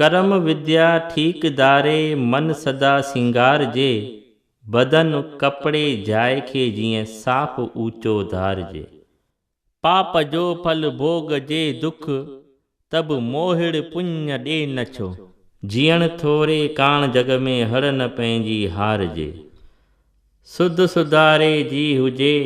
ڪرم وديا ٺيڪ داري من سدا سينگار جي بدن ڪپڙي جاء کي جيئن صاف اوچو ڌار جي پاپ جو ڦل ڀوڳ جي دک ته به موهڙ پڃ ڏي نه ڇو. جيئڻ ٿوري ڪاڻ جڳ ۾ هڙ نه پنهنجي هار جي سڌ سڌاري جي هجي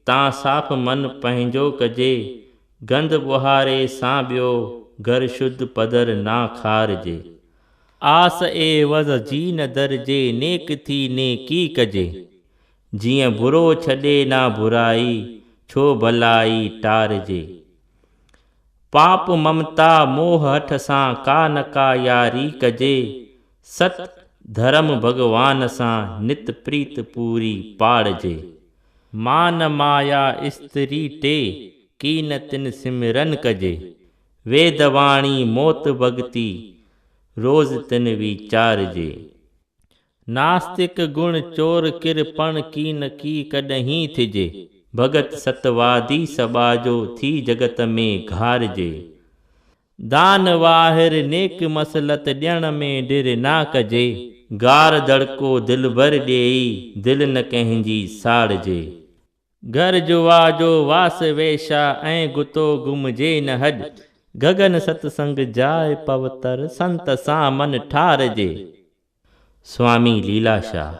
تان صاف من پنهنجو ڪجي گند ٻهاري سان ٻيو گهر شد پدر نا کارجي آس عيوض جي نه درجي نيڪ ٿي نيڪي ڪجي جيئن برو ڇڏي نا برائي ڇو ڀلائي ٽارجي پاپ ممتا موهه هٺ سان ڪا نه ڪا ياري ڪجي ست ڌرم ڀڳوان سان نت پريت پوري پاڙجي. مان مايا استري ٽي ڪين تن سمرن ڪجي. ويد واڻي موت ڀڳتي روز تن ويچارجي. ناستڪ گڻ چور ڪر پڻ ڪين ڪي ڪڏهين ٿجي. ڀڳت ست وادي سٻاجهو ٿي جڳت ۾ گهارجي. دان واهر نيڪ مصلحت ڏيڻ ۾ ڍر نا ڪجي. گار دڙڪو دلبر ڏيئي دل نه ڪنهن جي ساڙجي. گهر جو وا جو واس ويشا ۽ گتو گهمجي نه هڏ. گگن ست سنگ جاء پوتر سنت سان من ٺارجي. سوامي ليلا شاهه.